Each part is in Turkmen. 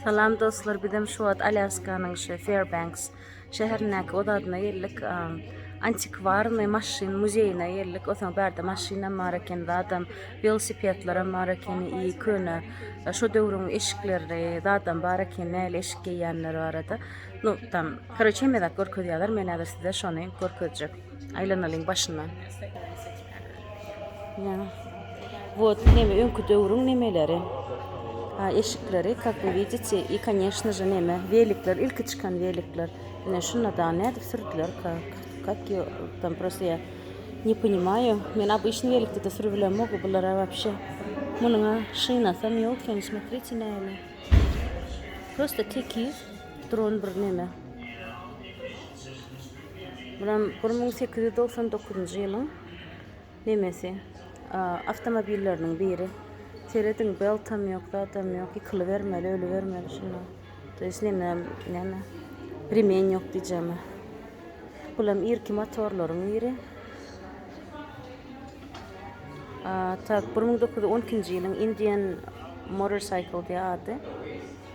Salam dostlar bizem şu wagt Alýaskanyň şu Fairbanks şäherindäki ozadyna geldik. Antikwarny maşyn muzeýine geldik. Osaň bärde maşynam bar eken, zadam welosipedlerim bar eken, i köne e, şu döwrüň eşikleri zadam bar eken, näli eşik geýýänler barada. No, tam, koroçe, mezak görkezýärler, men häzir size şony görkezjek. Aýlanalyň başyndan. Ýa. Wot neme öňki döwrüň nemeleri. Ha eşikleri kak we widite i koneşno je neme welikler ilki çykan welikler. Ine şunda da nädip sürdüler kak. Kak ýo tam prosto ýa. Ne ponimaýu. Men abyşny welikde de sürüp bilemok bulara wapşe. Munyň a şynasam ýok eken smotrite näme. Prosto tekiz dron bir neme. Bulam bir müň sekiz ýüz togsan dokuzynjy ýylyň nemesi. Awtomobilleriniň biri. Serediň, beltam ýok, zadam ýok. Ýykylybermeli, ölübermeli şunda. To ýest neme, neme, remen ýok diýjemi. Bulam irki motorlaryň biri. Tak, bir müň dokuz ýüz on ikinji ýylyň Indian Motorcycle diýýär ady.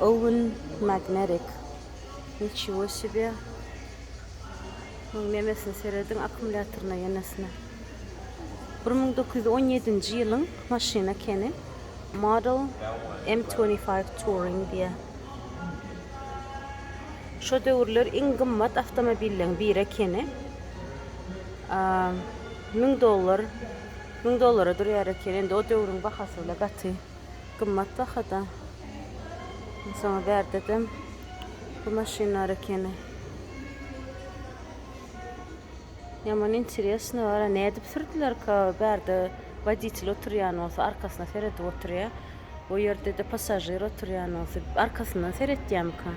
Owen Magnerik niçiwo sibye muň nemesine serediň akumulýatoryna ýenesine bir müň dokuz ýüz on ýedinji ýylyň maşyn ekeni model M twenty five Touring diýýä şo döwürler iň gymmat awtomobilleň biri ekeni müň dollar Müň dollara durýar eken, indi o döwrüň bahasy bile gaty gymmat bahada. Onsoňam bärdedem bu maşyn bar ekeni. Ýaman interesno bara, nädip sürdülerka, bärde woditel oturýan bolsa arkasyna seredip oturýar, o ýerde-de passažir oturýan bolsa arkasyndan seretýärmika.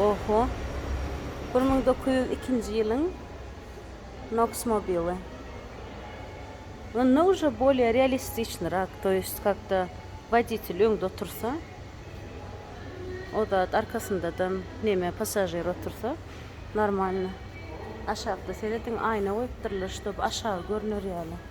Oho. Bir müň dokuz ýüz ikinji ýylyň Noksmobili. Onda uje bolye realistiçnirak, to ýest kakda woditel öňde otursa, o zat arkasyndadan neme passažir otursa normalno. Aşakda serediň aýna goýupdyrlar, ştob aşagy görner ýaly.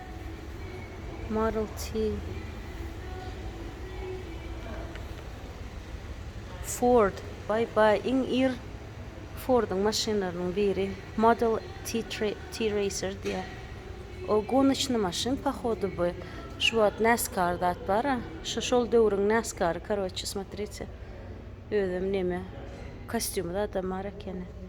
Maruti, Ford, baý baý iň ir Forduň maşynlarynyň biri Model T-Racer diýýär. O gonoçny maşyn pohodu bu. Şu wagt NASCAR zat bar-a, şu şol döwrüň NASCAR-y karoçe smotrite. Özem neme kostýumy zadam bar ekeni.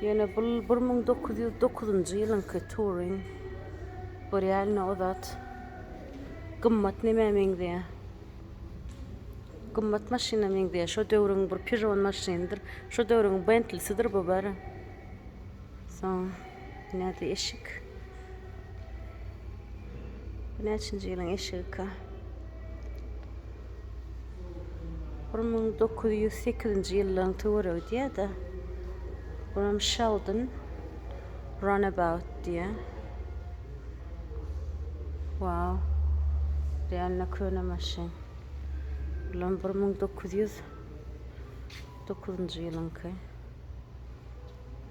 Ýöne bul bir müň dokuz ýüz dokuzynjy ýylyňky Touring. Görýärin-ä o zat. Gymmat nämä meňzeýär? Gymmat maşyna meňzeýär. Şo döwrüň bir Peugeot maşynydyr. Şo döwrüň Bentlisidir bu bary. Soň. Näde eşik? Bu näçinji ýylyň eşigika? Bir müň dokuz ýüz sekizinji ýyllaryň töweregi diýýär-de. Buram Sheldon Runabout diýýär. Wow. Realno köne maşyn. Bulam bir müň dokuz ýüz dokuzynjy ýylyňky.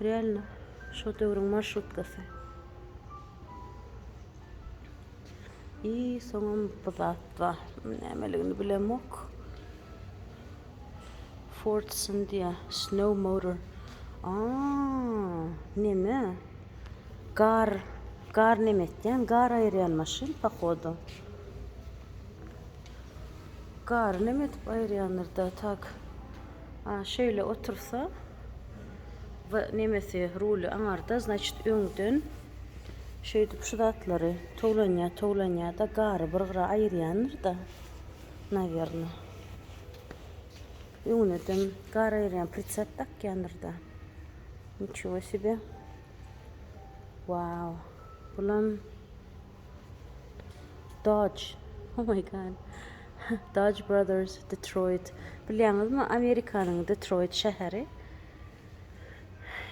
Realno şo döwrüň marşrutkasy. I soňam bir zat bar. Nämeligini bilemok. Ford Syndia Snow Motor. A, neme? Gar, gar neme etýän? Gar aýyrýan maşyn pohodu. Gar neme edip aýyrýandyr da tak. A şeýle otursa we nemesi ruly aňarda znaçit öňden şeýdip şu zatlary towlanýa towlanýa da gary bir gyra aýyrýandyr da nawerno. Öňündem gar aýyrýan pritsep dakýandyr da. Niçego sebe. Wow. Bulam Dodge Oh my god. Dodge Brothers Detroit. Bilýäňizmi, Amerikanyň Detroit şäheri.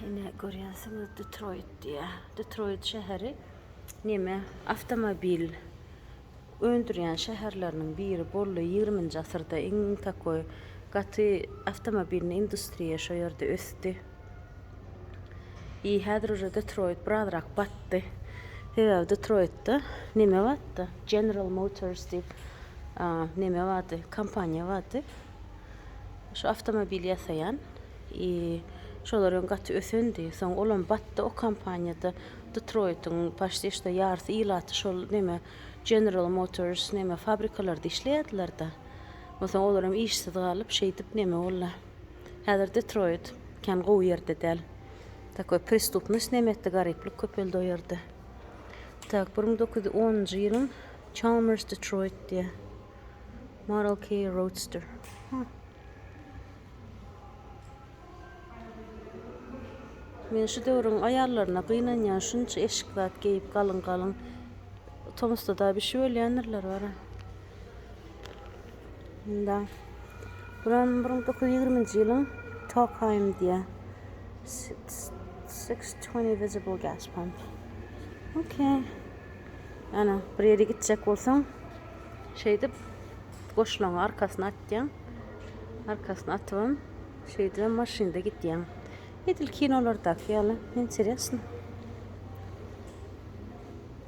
Ine görýänsiňiz Detroit diýä. Detroit şäheri neme awtomobil öndürýän şäherleriniň biri boldy ýigriminji asyrda iň takoý gaty awtomobilni industriýa şo ýerde ösdi. Ýi häzir uje Detroit birazrak batdy. Sebäbi Detroitda neme batdy? General Motors diýip neme bardy? Kompaniýa bardy. Şu awtomobil ýasaýan. I şolar öň gaty ösendi. Soň olam batdy o kompaniýada Detroitiň paşti işte ýarsy ilaty şol neme General Motors neme fabrikalarda işleýärdiler-de. Onsoň olar hem işsiz galyp şeýdip neme boldy. Häzir Detroit kän gowy ýerde däl. Takoý prestupnost näme etdi garyplyk köpeldi o ýerde. Tak bir müň dokuz ýüz onunjy ýylyň Chalmers Detroit diýýär. Model K Roadster. Men şu döwrüň aýallaryna gynanýan şunça eşik zat geýip galyň galyň. Tomusda da bişip ölýändirler bara. Munda buran bir müň dokuz ýüz ýigriminji ýylyň Tokheim diýýär. Six twenty visible gas pump. Okay. Ana, bir ýere gitjek bolsaň, şeýdip goşlaňy arkasyna atýaň. Arkasyna atybam, şeýdibem maşynda gidýäň. Edil kinolardaky ýaly, interesno.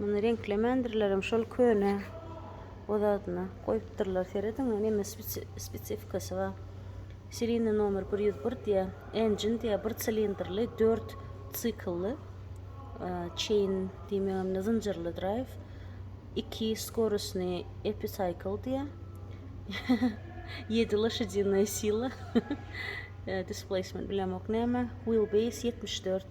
Muny reňklemändirlerem şol köne o zadyna goýupdyrlar serediň neme spesifikasy bar seriýny nomer bir ýüz bir diýýä engine diýýä bir silindrli dört siklly çeýn diýmegem zynjyrly draýw iki skorusny episaýkl diýýä ýedi loşadinnaý sila displaýsment bilemok näme wheel base ýetmiş dört.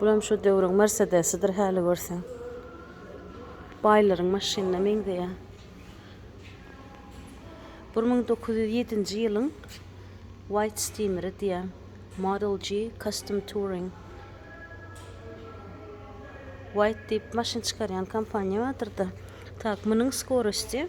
Bulam şu döwrüň mersedesidir häli görseň. Baýlaryň maşynyna meňzeýär. 1907-nji ýylyň White Steamer-i diýýär. Model G Custom Touring. White diýip maşyn çykarýan kompaniýa bardyr-da. Tak, munuň skorosti.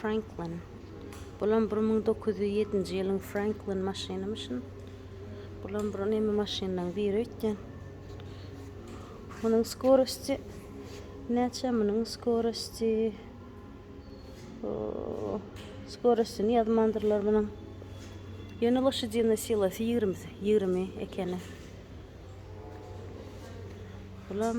Franklin. Bulam bir müň dokuz ýüz ýedinji ýylyň Franklin maşynymyşyn. Bulam bir näme maşynlaryň biri öýtýän. Munuň skorosti näçe munuň skorosti? Skorostini ýazmandyrlar munuň. Ýöne loşadýynyň silasy 20 20 ekeni. Bulam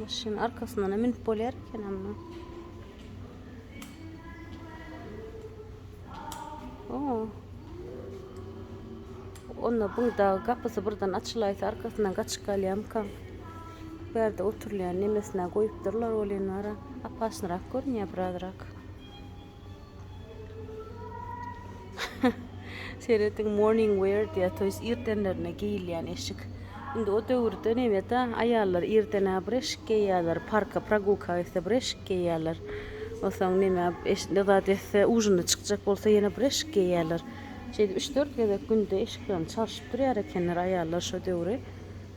Maşynyň arkasyndan münüp bolýar eken amma. Onda bu da gapysy birden açylaýsa arkasyndan gaçyp galýamka. Bu ýerde oturulýan nemesine goýupdyrlar welin wara apaşnyrak görünýär birazrak. Serediň morning wear diýýär, to ýest irdenlerine geýilýän eşik. Indi o döwürde nebet-ä aýallar irden-ä bir eşik geýýärler, parka progulka gitse bir eşik geýýärler. Onsoň nämä eş zat etse, ujina çykjak bolsa ýene bir eşik geýýärler. Şeýdip üç-dört gezek günde eşiklerini çalşyp durýar ekenler aýallar şo döwri.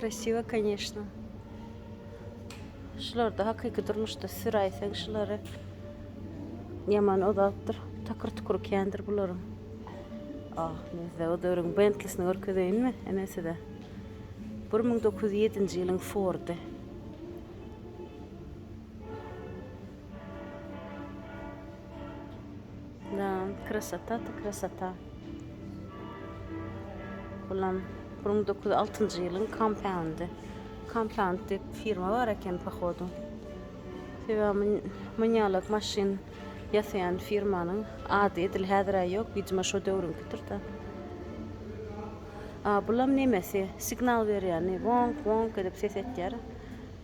Krasiwa koneşno. Şularda hakyky durmuşda süräýseň şulary ýaman ozapdyr. Takyr tukur kändir bularyň. Ah, men size o döwrüň Bentlisini görkezeýinmi? Ene size. 1907-nji ýylyň Fordy. Да, krasota to krasota. Bulam bir müň dokuz ýüz altynjy ýylyň kampaundy. Kampaund diýip firma bar eken pohodu. Sebäbi münýalak maşyn ýasaýan firmanyň ady edil häzir-ä ýok, widimo şo döwrüňkidir-de. A bulam nemesi, signal berýäni, wonk, wonk edip ses etýär.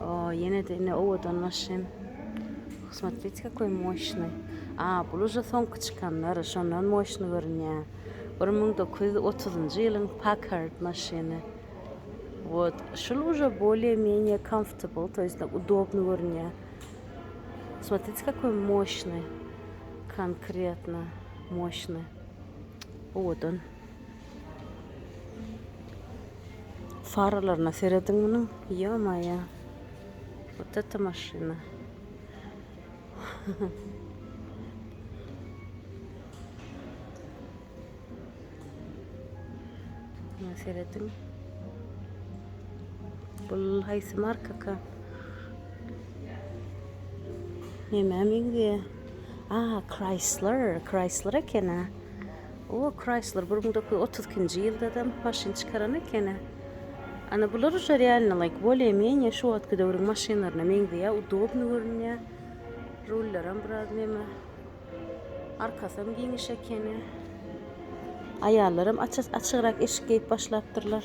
O, ýene-de indi owadan maşyn. Kosmotetika köý moşny. A, bul uje soňky çykanlar, şondan moşny görünýär. Bir müň dokuz ýüz otuzynjy ýylyň Packard maşyny. Wot, şul uje bolýe-menýe comfortable, to ýest udobny görünýär. Kosmotetika köý moşny. Konkretno moşny. Owadan. Faralaryna serediň munuň. Ýo-maýo. Wot eta maşyna. Muňa serediň. Bu haýsy markaka? Nämä meňzeýär? A, Chrysler, Chrysler eken-ä. O Chrysler bir müň dokuz ýüz otuz ikinji ýylda-da maşyn çykaran ekeni. Ana bular uje realny like bolye menye şu wagtky döwrüň maşynlaryna meňzeýä udobny görünýä. Rullaram biraz neme. Arkasam giňiş ekeni. Aýallaram açyk açygrak eşik geýip başlapdyrlar.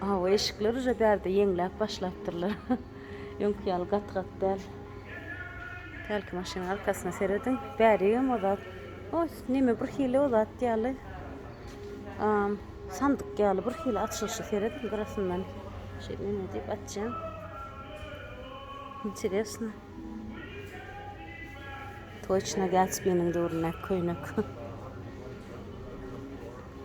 Hawa eşikler uje bärde ýeňläp başlapdyrlar. Öňki ýaly gaty gaty däl. Hälki maşynyň arkasyna serediň. Bärigem o zat. O neme bir hili o zat ýaly. Am, sandyk ýaly bir hili açylyşy serediň gyrasyndan. Şeýle neme diýip açýan. Interesno. Toçna Gatsbiniň döwründäki köýnek.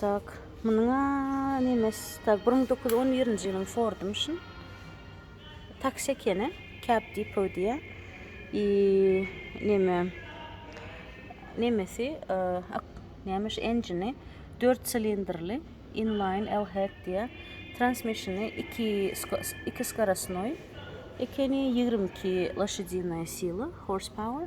Tak munuň a nemes tak bir müň dokuz ýüz on birinji ýylyň fordymyşyn taksi ekeni kap dipo diýýä i neme nemesi nemiş enjini dört silindrli inlaýn lht diýýä transmişini iki iki skorosnoý ekeni ýigrimi iki loşadinoýa sila hors power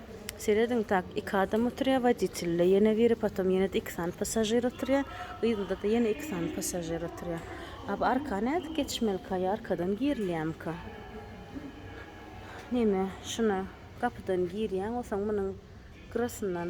Serediň tak iki adam oturýa woditelde ýene biri potom ýenede iki sany passažir oturýa yzynda-da ýene iki sany passažir oturýa. A bu arka nädip geçmelika ýa arkadan girilýämika. Neme şuna gapydan girýäň osaň munyň grasyndan.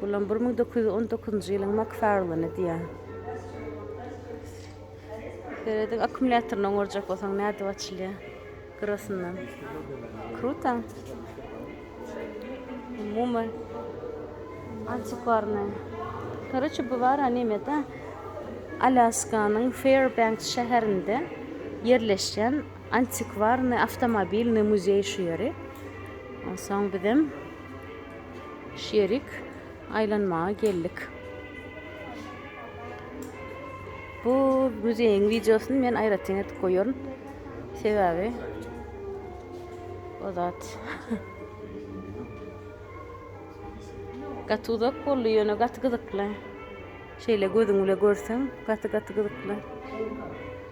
Bulam bir müň dokuz ýüz on dokuzynjy ýylyň Makfarlany diýýär. Serediň akkumulýatoryny oňarjak bolsaň nädip açylýar? Gyrasyndan. Kruta. Umuman antikwarny. Karaçi bu bar animede Alyaskanyň Fairbanks şäherinde ýerleşýän Antikwarny awtomobilny muzeý şu ýeri. Onsoň bizem şu ýerik aýlanmaga geldik. Bu muzeýiň wideosyny men aýratyn edip goýaryn. Sebäbi o zat gaty uzak boldy, ýöne gaty gyzykly. Şeýle gözüň bile görseň, gaty-gaty gyzykly.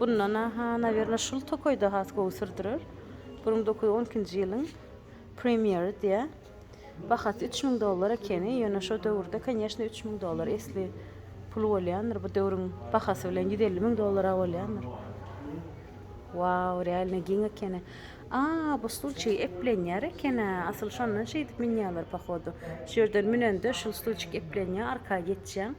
Bundan aha nawerno şul tokaýda has gowy sürdürer. Bir müň dokuz ýüz on ikinji ýylyň premýeri diýä. Bahasy üç müň dollar ekeni, ýöne şo döwürde konýeşne üç müň dollar esli pul bolýandyr, bu döwrüň bahasy bilen ýüz elli müň dollara bolýandyr. Wau, realno giň ekeni. A, bu stulçigi eplenýär eken-ä, asyl şondan şeýdip münýärler pohodu. Şu ýerden münende şul stulçik eplenýär, arka geçýäň.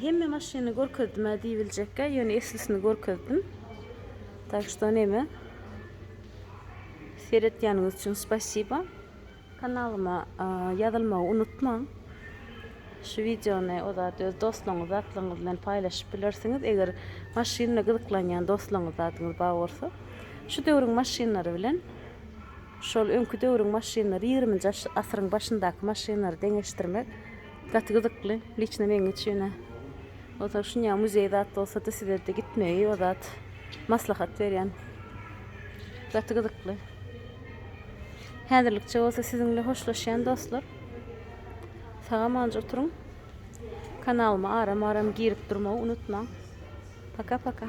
Hemme maşyny görkezdim-ä diýibiljekkä, ýöne eslisini görkezdim. Tak şto neme. Seretýäniňiz üçin spasiba. Kanalyma ýazylmagy unutmaň. Şu wideony o zat öz dostlaryňyz, zatlaryňyz bilen paýlaşyp bilersiňiz, eger maşynyna gyzyklanýan dostlaryňyz, zadyňyz bar bolsa. Şu döwrüň maşynlary bilen şol öňki döwrüň maşynlary, ýigriminji asyryň başyndaky maşynlary deňeşdirmek, Gaty gyzykly liçno meň üçin Ozal şunýa muzeý zat bolsada sizede gitmegi o zat maslahat berýän. Gaty gyzykly. Häzirlikçe bolsa siziňle hoşlaşýan dostlar. Saga manjy oturyň. Kanalyma aram aram girip durmagy unutmaň. Paka paka.